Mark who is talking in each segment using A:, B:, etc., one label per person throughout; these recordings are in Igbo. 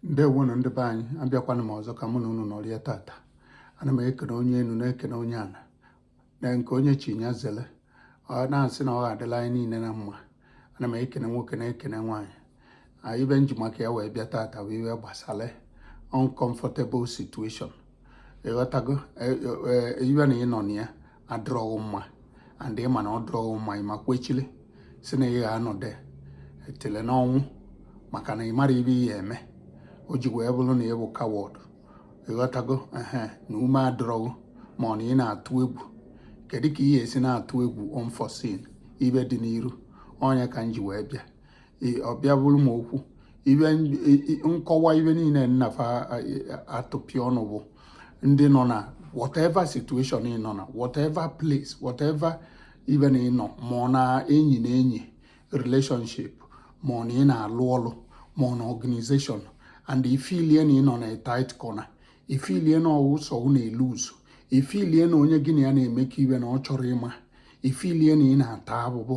A: ndewonu ndị be anyị abịakwana m ọzọ ka mụ na unu nọrịa tata ana m ekene onye enu na-ekene onye ana nke onye chi nya zele ọ na-asị na ọ ga-adịlị anyị niile na mma ana m ekene nwoke na-ekene nwaanyị ibe m ji maka ya wee bịa tata wụ ibe gbasara uncomfortable situation ịghọtago e, e, e, ibe na ị nọ na ya adịrọ gị mma and ị ma na ọ dịrọ gị mma ị ma kwechili sị na ị ga-anọde etele n'ọnwụ maka na ị marọ ibe ị ya-eme o ji wee bụrụ na ị bụ coward ịghọtago ehe na ume adịrọ gị ma ọ na ị na-atụ egwu kedu ka ị ga-esi na-atụ egwu unforeseen ibe dị n'iru ọ nya ka m ji wee bịa ọ bịa bụrụ m okwu ibe nkọwa ibe niile nnafa atụpịa ọnụ bụ ndị nọ na whatever situation ị nọ na whatever place whatever ibe na ị nọ ma ọ na enyi na enyi relationship ma ọ na ị na-alụ ọlụ ma ọ na organization and ifilie na ị nọ na tight corner ifilie na ọ wụ sọ ụ na-elu uzu ifilie na onye gị na ya na-emekọ ibe na ọ chọrọ ịma ifilie na ị na-ata abụbụ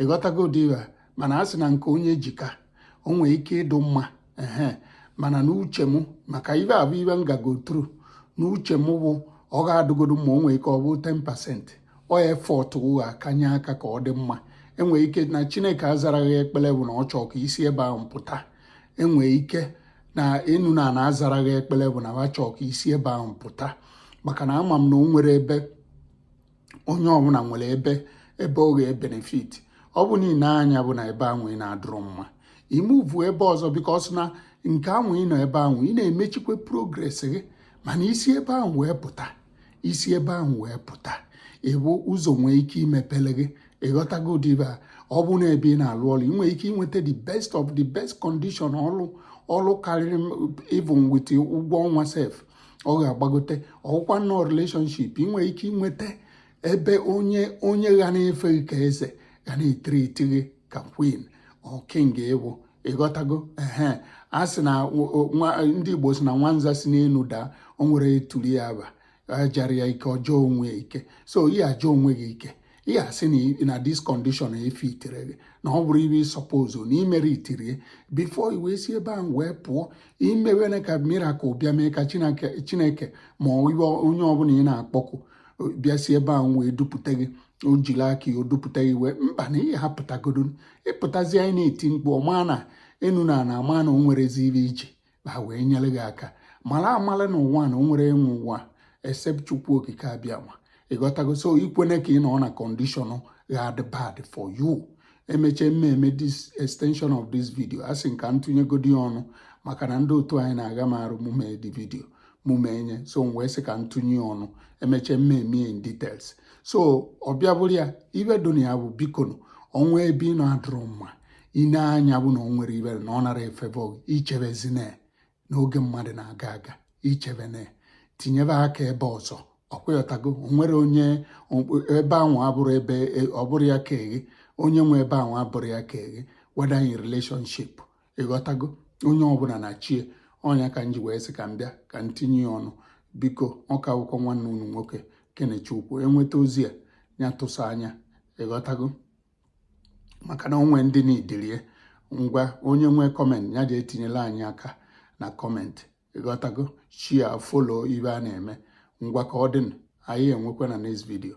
A: ịghọtago ụdị ibe a mana a sị na nke onye ji ka o nwee ike ịdụ mma ehe mana n'uche m maka ibe a bụ ibe m gago through n'uche m bụ ọ ga-adụgodo mma o nwee ike ọ bụ 10% ọ effort ụ ga-akanye aka ka ọ dị mma e nwee ike na chineke azarọ gị ekpere bụ na ọ chọọ ka i si ebe ahụ pụta e nwee ike na enu na ana azarọ gị ekpere bụ na ha chọọ ka i si ebe ahụ pụta maka na ama m na o nwere ebe onye ọbụla nwere ebe ọ ga-ebenefit ọ bụ niile anya bụ na ebe ahụ ị nọ adụrọ mma i muvu ebe ọzọ because na nke ahụ ị nọ ebe ahụ ị na-emechikwa progress gị mana i si ebe ahụ wee pụta i si ebe ahụ wee pụta ịbụ ụzọ nwee ike imepele gị ịghọtago ụdị ibe a ọ bụ na ebe ị na-alụ ọlụ ị nwere ike inweta the best of the best condition ọlụ karịrị even with ụgwọ ọnwa sef ọ ga-agbagote ọ wụkwa na ọ relationship ị nwere ike inweta ebe onye ga na-efe gị ka eze ga na-etriiti gị ka queen or king ị bụ ịghọtago ehe a sị na ndị Igbo si na nwanza si n'enu daa o nwerọ onye toli ya ba jara ya ike ọ jaa onwe ya ike so ị ya-aja onwe gị ike ị ya-asị na this condition efitirọ gị na ọ bụrọ ibe ị sọpozo na imere itirie before i wee si ebe ahụ wee pụọ imewene ka miracle bịa mee ka chineke ma ọ onye ọbụla ị na-akpọkụ bịa si ebe ahụ wee dupụta gị o jiri aka ya dupụta gị wee mba na ị ya-apụtagodo ị pụtazi ị na-eti mkpu ọma na enu na ana ama na o nwerezi ibe ije ha wee nyere gị aka mara amala na ụwa na o nwerọ onye nwe ụwa except chukwu okike abịama ị ghọtago so ikwene ka ị nọ na condition ga-adị bad for you emechee m mee this extension of this video a sị m ka m tinyegodi ya ọnụ maka na ndị otu anyị na-aga m arụ mụ mee the video mụ mee nye so m wee sị ka m tinye ọnụ emechee m mee in details so ọ bịa bụrụ ya ife dị na ya bụ bikonu ọnwa ebe ị nọ adịrọ mma i nee anya bụ na o nwere ibere na ọ nara efebe ichebezina n'oge mmadụ na-aga aga ichebena tinyebe aka ebe ọzọ ọkwa ị ghọtago onwere onye ebe ahụ abụrọ ebe e, ọ bụrọ ya ka eghe onye nwe ebe ahụ abụrọ ya ka eghe whether in relationship ị ghọtago onye ọbụla na chi ya ọ nya ka m ji wee sị ka m bịa ka m tinye ya ọnụ biko ọ ka bụkwa nwanne unu nwoke kenechukwu enweta ozi a ya tụsa anya ị ghọtago maka na o nwe ndị n'idirie ngwa onye nwee comment ya jee tinyela anyị aka na comment ị ghọtago share follow ife a na-eme ngwa ka ọ dịnụ anyị enwekwa na next video